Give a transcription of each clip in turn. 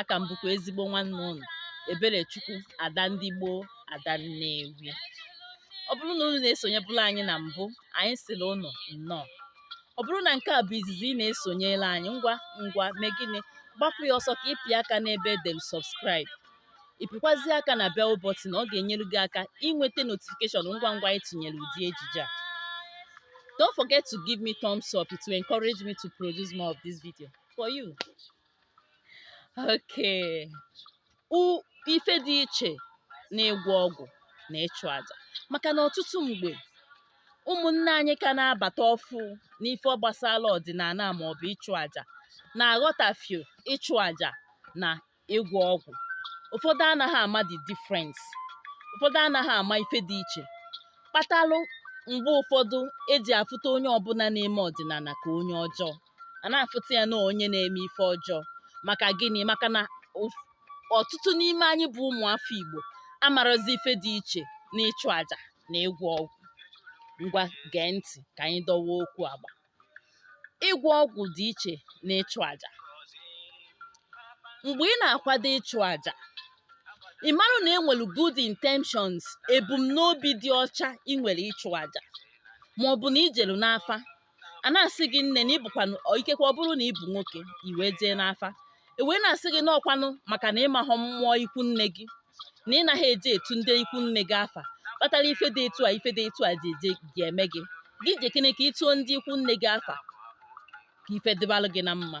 aka m bụkwa ezigbo nwanne unu Eberechukwu Ada ndị gboo Ada Nnewi ọ bụrụ na unu na-esonyebụla anyị na mbụ anyị sịrị unu nnọọ ọ bụrụ na nke a bụ izizi ị na-esonyela anyị ngwa ngwa mee gịnị gbapụ ya ọsọ ka ị pịa aka n'ebe e dere subscribe ị pịkwazie aka na bell button ọ ga-enyere gị aka inweta notification ngwa ngwa anyị tinyere ụdị ejije a don't forget to give me thumbs up it will encourage me to produce more of this video for you Okay. Ife dị iche n'ịgwọ ọgwụ na ịchụ aja maka na ọtụtụ mgbe ụmụnne anyị ka na-abata ọfụ n'ife gbasara ọdịnala ma ọ bụ ịchụ aja na-aghọtafio ịchụ aja na ịgwọ ọgwụ ụfọdụ anaghị ama the difference ụfọdụ anaghị ama ife dị iche kpatalụ mgbe ụfọdụ e ji afụta onye ọbụla na-eme ọdịnala ka onye ọjọọ a na-afụta ya na onye na-eme ife ọjọọ maka gịnị maka na ụf- ọtụtụ n'ime anyị bụ ụmụafọ Igbo amarozi ife dị iche n'ịchụ aja na ịgwọ ọgwụ ngwa gee ntị ka anyị dọwa okwu agba ịgwọ ọgwụ dị iche na ịchụ aja mgbe ị na-akwado ịchụ aja ị marụ na e nwere good intentions ebumnobi dị ọcha ị nwere ịchụ aja ma ọ bụ na i jelu n'afa a na-asị gị nne na ị bụkwanụ ikekwe ọ bụrụ na ị bụ nwoke i wee jee n'afa e wee na-asị gị na ọ kwanụ maka na ị mahọ mmụọ ikwu nne gị na ị naghị eje etu ndị ikwu nne gị afa kpatara ife dị etu a ife dị etu a ji eje ga-eme gị gị jekene ka ị tụọ ndị ikwu nne gị afa ka ife dịbalụ gị na mma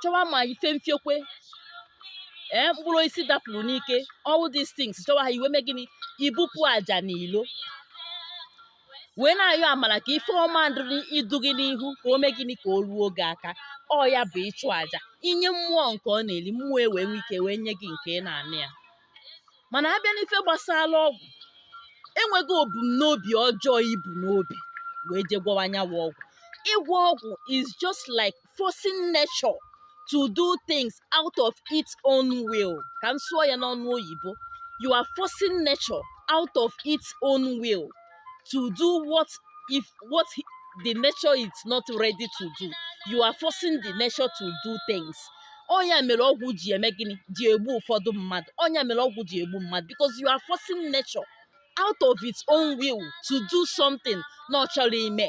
chọwa ma ife mfiokwe ee mkpụrụ osisi dapụrụ n'ike all these things chọwa ha i wee mee gịnị i bupụ aja n'ilo wee na-ayọ amara ka ife ọma dịrị idu gị n'ihu ka o mee gịnị ka o ruo gị aka ọ ya bụ ịchụ aja i nye mmụọ nke ọ na-eri mmụọ e wee nwee ike wee nye gị nke ị na-ana ya mana a bịa n'ife gbasara ọgwụ enweghị obumnobi ọjọọ i bu n'obi wee je gwọwa anyanwụ ọgwụ ịgwọ ọgwụ is just like forcing nature to do things out of its own will ka m sụọ ya n'ọnụ oyibo you are forcing nature out of its own will to do what if what the nature is not ready to do you are forcing the nature to do things ọ ya mere ọgwụ ji eme gịnị ji egbu ụfọdụ mmadụ ọ ya mere ọgwụ ji egbu mmadụ because you are forcing nature out of its own will to do something na ọ chọrọ ime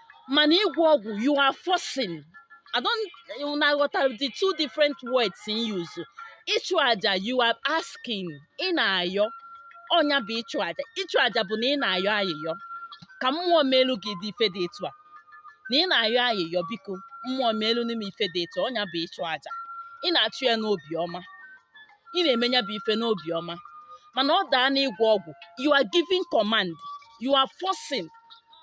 mana ịgwọ ọgwụ you are forcing I don't know ma ị ghọtara the two different words in use ịchụ aja you are asking ị na-ayọ ọ nya bụ ịchụ aja ịchụ aja bụ na ị na-ayọ ayịyọ ka mmụọ melu gị ụdị ife dị etu a na ị na-ayọ ayịyọ biko mmụọ melu nụ m ife dị etu ọ nya bụ ịchụ aja ị na-achụ ya n'obi ọma ị na-eme ya bụ ife n'obi ọma mana ọ daa n'ịgwọ ọgwụ you are giving command you are forcing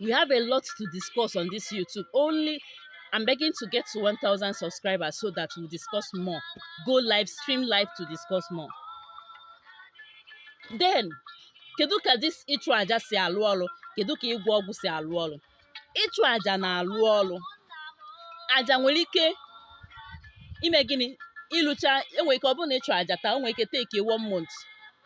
we have a lot to discuss on this YouTube. Only I'm begging to get to 1,000 subscribers so that we'll discuss more. Go live, stream live to discuss more. Then, kedu ka this ịchụ aja si alụ ọrụ kedu ka ịgwọ ọgwụ si alụ ọrụ ịchụ aja na-alụ ọrụ aja nwere ike ime gịnị ịlụcha e nwere ike ọ bụrụ na ị chụọ aja taa o nwere ike take one month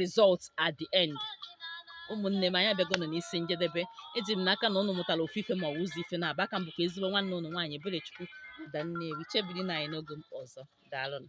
result at the end ụmụnne m anyị abịagonụ n'isi njedebe eji m n'aka na ụnụ mụtara ofu ife ma ọ bụ ụzọ ife naabọ a ka m bụkwa ezigbo nwanne ụnụ nwaanyị Ebelechukwu Ada Nnewi chebirinụ anyị n'oge m ọzọ daalụnụ